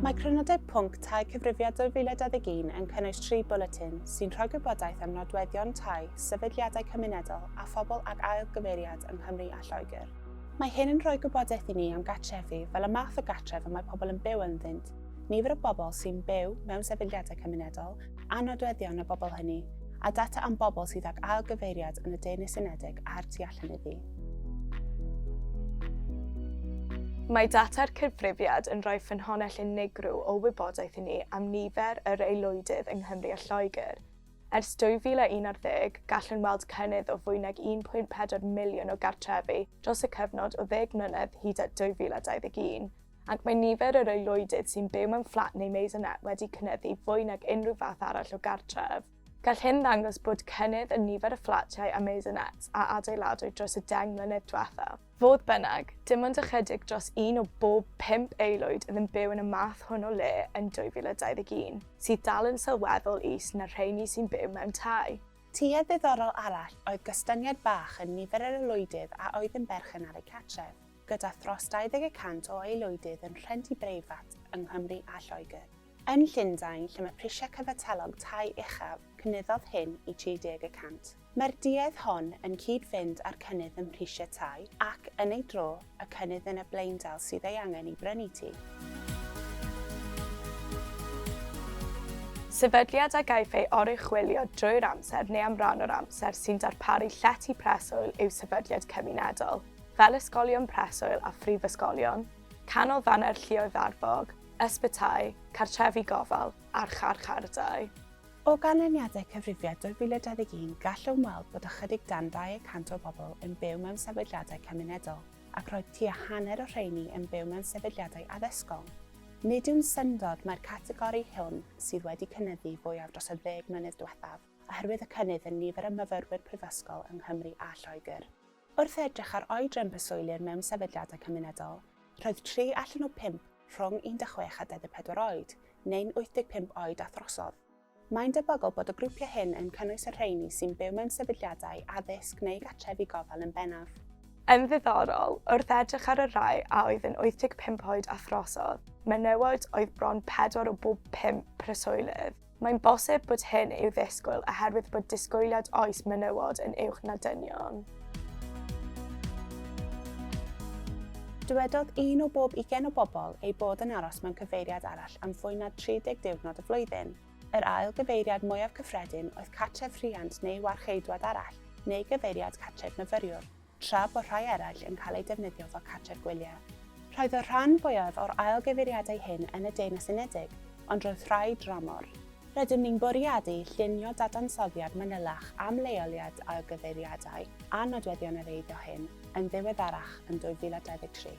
Mae Crynodeb Pwnc Tai Cyfrifiad 2021 yn cynnwys tri bwletin sy'n rhoi gwybodaeth am nodweddion tai, sefydliadau cymunedol a phobl ag ail gyfeiriad yng Nghymru a Lloegr. Mae hyn yn rhoi gwybodaeth i ni am gartrefi fel y math o gartref y mae pobl yn byw ynddynt, nifer y bobl sy'n byw mewn sefydliadau cymunedol, a nodweddion y bobl hynny, a data am bobl sydd ag ailgyfeiriad yn y Deyrnas Unedig a'r tu allan iddi. Mae data'r cyfrifiad yn rhoi ffynhonnell unigryw o wybodaeth i ni am nifer yr aelwydydd yng Nghymru a Lloegr. Ers 2011, gallwn weld cynnydd o fwy nag 1.4 miliwn o gartrefi dros y cyfnod o ddeg mlynedd hyd at 2021. ac mae nifer yr aelwydydd sy'n byw mewn fflat neu maisonette wedi cynyddu fwy nag unrhyw fath arall o gartref. Gall hyn ddangos bod cynnydd yn nifer y fflatiau a maisonettes a adeiladwyd dros y deng mlynedd diwethaf. Fodd bynnag, dim ond ychydig dros un o bob pump aelwyd oedd yn byw yn y math hwn o le yn 2021, sydd dal yn sylweddol is na'r rheini sy'n byw mewn tai. Tuedd ddiddorol arall oedd gostyngiad bach yn nifer yr aelwydydd a oedd yn berchen ar eu cartref. gyda thros 20 y cant o aelwydydd yn rhentu breifat yng Nghymru a Lloegr. Yn Llundain, lle mae prisiau cyfatellog tai uchaf, cynyddodd hyn i 30 y cant. Mae'r duedd hon yn cyd-fynd â'r cynnydd ym mhrisiau tai ac, yn ei dro, y cynnydd yn y blaendal sydd ei angen i brynu tŷ. Sefydliad a gaiff ei oruchwylio drwy'r amser neu am ran o'r amser sy'n darparu llety preswyl yw sefydliad cymunedol. fel ysgolion preswyl a phrifysgolion, canolfannau'r lluoedd arfog, ysbytai, cartrefi gofal a'r charchardai. O ganlyniadau Cyfrifiad 2021 gallwn weld bod ychydig dan 200 o bobl yn byw mewn sefydliadau cymunedol ac roedd tua hanner o rheiny yn byw mewn sefydliadau addysgol. Nid yw'n syndod mai'r categori hwn sydd wedi cynyddu fwyaf dros y ddeg mlynedd diwethaf oherwydd y cynnydd yn nifer y myfyrwyr prifysgol yng Nghymru a Lloegr. Wrth edrych ar oedran preswylyr mewn sefydliadau cymunedol, roedd tri allan o bump rhwng 16 a 24 oed, neu'n 85 oed a throsodd. Mae'n debygol bod y grwpiau hyn yn cynnwys y rheini sy'n byw mewn sefydliadau addysg neu gartrefi gofal yn bennaf. Yn ddiddorol, wrth edrych ar y rhai a oedd yn 85 oed a throsodd, menywod oedd bron pedwar o bob pump preswylydd. Mae'n bosib bod hyn i'w ddisgwyl oherwydd bod disgwyliad oes menywod yn uwch na dynion. Dywedodd un o bob ugain o bobl eu bod yn aros mewn cyfeiriad arall am fwy na 30 diwrnod y flwyddyn. Yr ail gyfeiriad mwyaf cyffredin oedd cartref rhiant neu warcheidwad arall neu gyfeiriad cartref myfyriwr. tra bod rhai eraill yn cael eu defnyddio fel cartref gwyliau. Roedd y rhan fwyaf o'r ail gyfeiriadau hyn yn y Deyrnas Unedig, ond roedd rhai dramor. Rydym ni'n bwriadu llunio dadansoddiad manylach am leoliad ail gyfeiriadau a nodweddion yr eiddo hyn yn ddiweddarach yn 2023.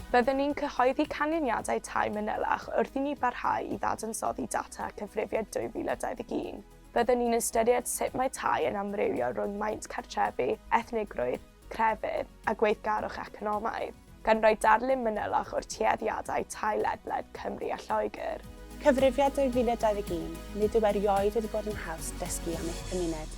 Byddwn ni'n cyhoeddi canlyniadau tai manylach wrth i ni barhau i ddadansoddi data Cyfrifiad 2021. Byddwn ni'n ystyried sut mae tai yn amrywio rhwng maint cartrefi, ethnigrwydd, crefydd a gweithgarwch economaidd, gan roi darlun manylach o'r tueddiadau tai ledled Cymru a Lloegr. Cyfrifiad 2021, Nid yw erioed wedi bod yn haws dysgu am eich cymuned.